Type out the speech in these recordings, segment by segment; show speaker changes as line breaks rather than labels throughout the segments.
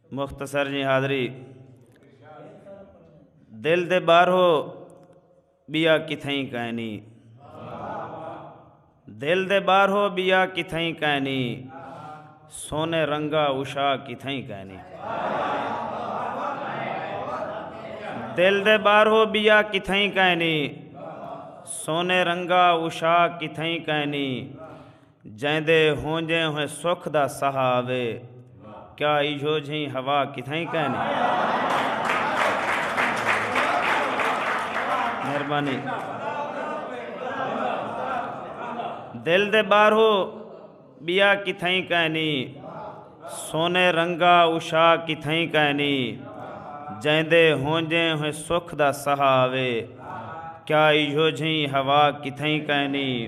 مختصر جی حاضری دل دے باہرو بیا کتھائی کائنی دل دے باہرو بیا کتھائی کائنی سونے رنگا اشا کتھائی کائنی دل دے باہرو بیا کتھائی کائنی سونے رنگا اشا کتھائی کائنی جیندے ہونجیں ہوئے سکھ دا سہا آوے کیا ایجھو جھیں ہوا کتھائیں کائنی مہربانی دل دے بارہو بیا کتھائیں کائنی سونے رنگا اوشا کتھائیں کائنی جیندے ہونجیں ہوئے سکھ دا سہا آوے کیا ایجھو جھیں ہوا کتھائیں کائنی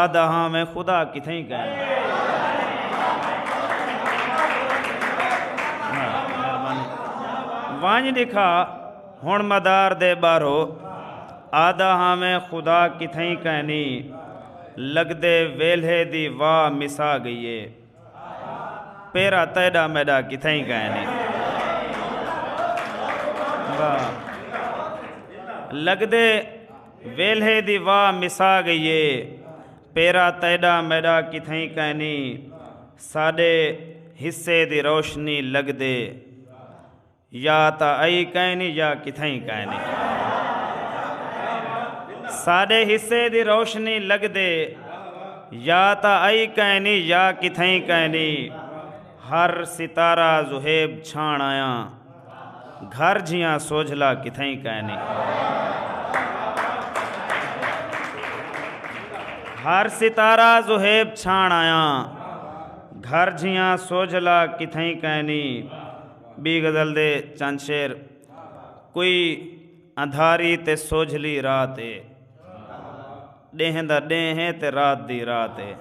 آہدا ہاں میں خدا کتھیں کہیں ونج دکھا ہن مدار دے بارو آدھا ہاں میں خدا کتھیں کہنی لگدے ویلھے دی واہ مسا گئیے پیرا تیڈا میڈا کتھائی کائے نہیں لگدے ویلھے دی واہ مسا گئیے پیرا تیڈا میڈا کتھائی کائے نہیں ساڈے حصے دی روشنی لگدے یا تاں ائی کائنی یا کتھائیں کائنی۔ ساڈے حصے دی روشنی لگدے یا تاں ائی کائنی یا کتھائیں کائنی۔ ہر ستارہ زہیب چھاݨ آیاں گھر جھیاں سوجھلا کتھائیں کائنی۔ ہر ستارہ زہیب چھاݨ آیاں گھر جھیاں سوجھلا کتھائیں کائنی۔ ٻی غزل دے چند شعر کوئی اندھاری تے سوجھلی رات اے ڈینہ دا ڈینہ ہے تے رات دی رات اے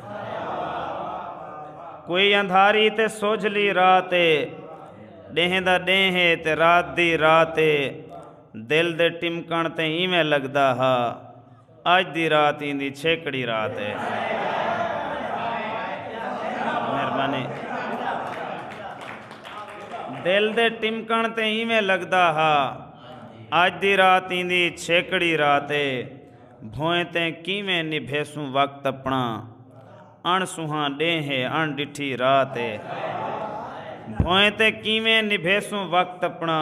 کوئی اندھاری تے سوجھلی رات اے ڈینہ دا ڈینہ ہے تے رات دی رات اے دل دے ٹمکن تے ایویں لگدا ہا اج دی رات ایندی چھیکڑی رات اے۔ مہربانی۔ دل دے ٹمکݨ تے اینویں لڳدا ہا اج دی رات ایندی چھیکڑی رات اے بھوئیں تیں کینویں نبھیسوں وقت اپݨا اݨ سونہاں ݙینھ اے اݨ ݙٹھی رات اے بھوئیں تیں کینویں نبھیسوں وقت اپݨا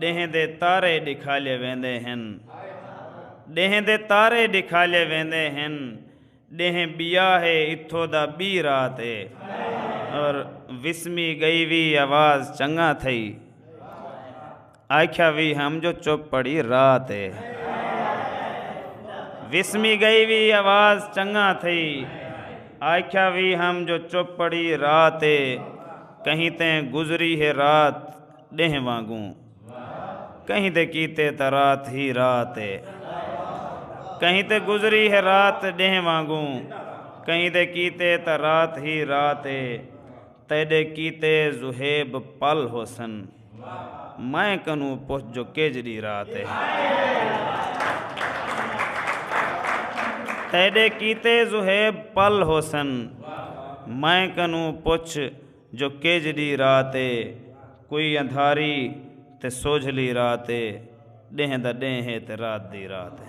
ݙینہہ دے تارے ݙکھالئے ویندے ہن ݙینہہ دے تارے ݙکھالئے ویندے ہن ݙینہہ ٻیا ہے اتھو دا ٻی رات اے اور وسمی ڳئی وی آواز چنگا تھئی آکھیا وی ہم جو چپ پڑی رات اے وسمی ڳئی وی آواز چنگا تھئی آکھیا وی ہم جو چپ پڑی رات اے کہیں تیں گزری ہے رات ݙینہہ وانگوں کہیں دے کیتے تاں رات ہی رات اے کہیں تے گزری ہے رات ݙینہہ وانگوں کہیں دے کیتے تاں رات ہی رات اے تیݙے کیتے ذہیب پل ہوسن میں کنوں پچھ جو کیجھڑی رات اے تیݙے کیتے ذہیب پل ہوسن میں کنوں پچھ جو کیجھ ڈی رات اے کوئی اندھاری تے سوجھلی رات اے ڈینہہ دا ڈینہہ اے تے رات دی رات اے۔